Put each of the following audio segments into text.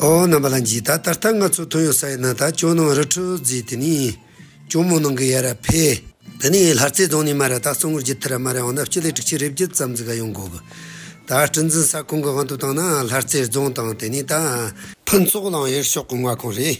ཨོ་རྣམ་པ་ལ་འཇིག་ད་ད་ལྟ་ང་ཚོ་དོན་ཡོད་ས་ཡོད་ན་ད་ཅོ་ནང་རི་ཁྲོད་རྫིས་དེ་ནི་ཅོ་མོ་ནང་གི་ཡ་ར་ཕེ། དེ་ནི་ལྷ་རྩེ་རྫོང་ནས་མ་ར་ད་གཙང་བོར་བརྒྱུད་ཐུ་ར་མ་ར་འོང་ན་སྤྱི་ལེ་དྲུག་ཆིག་རེ་བརྒྱུད་ཙམ་ཙི་ག་ཡོང་དགོས་གི། ད་སྤྲིན་འཛིན་ས་ཁོང་གི་དབང་དུ་བཏང་ན་ལྷ་རྩེ་རྫོང་དང་དེ་ནི་ད། ཕུན་ཚོགས་གླང་ཡེར་ཤོག་གི་མངའ་ཁོངས་རེད།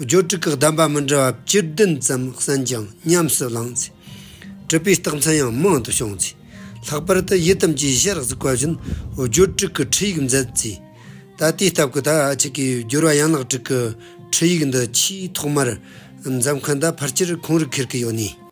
སྦྱོར་དྲུག་གི་གདམས་པ་མི་འདྲ་བ་བཅུ་བདུན་ཙམ་གསན་ཀྱང་ཉམས་སུ་བླངས་ཚེ། གྲུབ་པའི་རྟགས་མཚན་ཡང་མང་དུ་བྱུང་ཚེ། ལྷག་པར་དུ་ཡི་དམ་གྱི་གཞི་རགས་སུ་བཀོད་བཞིན་སྦྱོར་དྲུག་གི་ཁྲིད་ཡིག་མཛད་རྩིས། ད་ལྟའི་སྟབས་ཀྱི་ཐ་ཆད་ཀྱི་སྦྱོར་བ་ཡན་ལག་དྲུག་གི་ཁྲིད་ཡིག་འདི་ཆེས་ཐོག་མར་མཛད་མཁན་དང་ཕར་ཆེར་ཁོང་རུ་ཁེར་གྱི་ཡོད་ནས།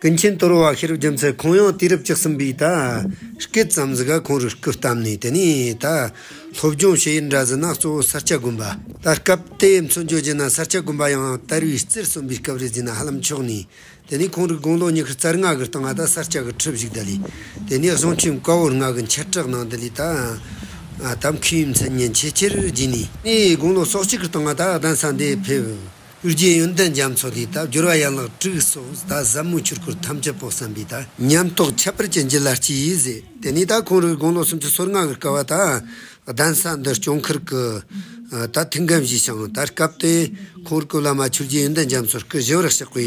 ཀུན་མཁྱེན་དོར་བ་ཤེས་རབ་རྒྱལ་མཚན་ཁོང་ཡང་དུས་རབས་བཅུ་གསུམ་པའི་ད་སྐད་ཙམ་ཟིག་ག་ཁོང་རུ་སྐུ་བལྟམས་ནས་དེ་ནས་ད་སློབ་སྦྱོང་བྱེད་ཡུལ་འདྲ་བཟི་ན་གཙོ་བོ་ས་སྐྱ་དགོན་པ། ད་སྐབས་དེ་མཚོན་བརྗོད་བྱས་ན་ས་སྐྱ་དགོན་པ་ཡང་དར་བའི་རྩེར་སོན་པའི་སྐབས་རེད་ཟེར་ན་ཧ་ལམ་ཆོག་ནས་དེ་ནས་ཁོང་རུ་དགུང་ལོ་ཉི་ཤུ་རྩར་ང་གི་སྟེང་ང་ད་ས་སྐྱ་གི་ཁྲི་བཞུགས་ད་ལས་དེ་ནས་བཟུང་ཁྱིམ་དཀར་བོར་ང་གི་འཁྱེར་གྲགས་གནང་དེ་ལས་ད་ད་མཁས་པའི་མཚན་སྙན་ཆེས་ཆེར་བརྗིད་ནས། ངའི་དགུང་ལོ་སོ་གཅིག་གི་སྟེང་ང་ད་གདན་ས་འདི་ཕེབས། གཡུ་རྒྱལ་ཡོན་ཏན་རྒྱ་མཚོ་དེའི་དག་སྦྱོར་བ་ཡན་ལག་དྲུག་སོགས་གཟའ་ཟབ་མོའི་ཆོས་སྐོར་ཐམས་ཅད་པོ་བསམ་པའི་དག། ཉམས་རྟོགས་ཁྱད་པར་ཅན་གྱི་ལ་སྤྱི་ཡིས་ཟེར། དེ་ནས་ད་གུང་རིགས་དགུང་ལོ་སུམ་ཅུ་སོ་ལྔ་གི་སྐལ་བ་དང། གདན་ས་འདི་སྐྱོང་ཁུལ་གྱི་ད་ཐུགས་འགན་བཞེས་ཤིང་ད་སྐབས་དེ་གུང་རིགས་ཀུན་བླ་མ་ཆོས་རྒྱལ་ཡོན་ཏན་རྒྱ་མཚོར་སྐུ་བཞི་བར་གཤེགས་པའི་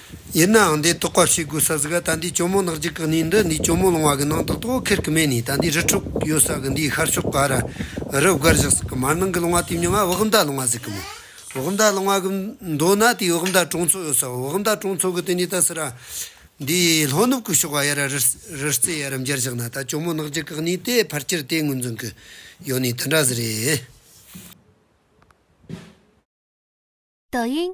ཡིན་ནའང་དེ་རྟོགས་པ་བྱེད་དགོས་ས་ཟིག་ག་ད་འདི་གྱོ་མོ་ནག་ཅིག་གི་ནི་འདི་འདི་གྱོ་མོ་ལོང་བ་གི་ནང་ཏག་ཏོག་ཁེར་གི་མེད་ནི་ད་འདི་རི་ཕྲུག་ཡོད་ས་གི་འདིའི་ཤར་ཕྱོགས་ག་ར་རི་བསྒར་བཞག་ཟིག་གི་མར་ནང་གི་ལོང་བ་དེ་མྱོང་ང་བག་མདའ་ལོང་བ་ཟིག་གི་མོ་བག་མདའ་ལོང་བ་གི་མདོ་ན་དེའི་བག་མདའ་གྲོང་ཚོ་ཡོད་ས་བོ་བག་མདའ་གྲོང་ཚོ་གི་དེ་ནི་ད་སི་ར་འདི་ལྷོ་ནུབ་གི་ཕྱོགས་ག་ཡ་ར་རི་རྩེ་ཡ་ར་འབྱར་བཞག་ན་ད་གྱོ་མོ་ནག་ཅིག་གི་ནི་དེ་ཕར་ཁྱེར་དེའི་ངོས་འཛིན་གི་ཡོད་ནི་དེ་འདྲ་ཟིག་རེད། Douyin།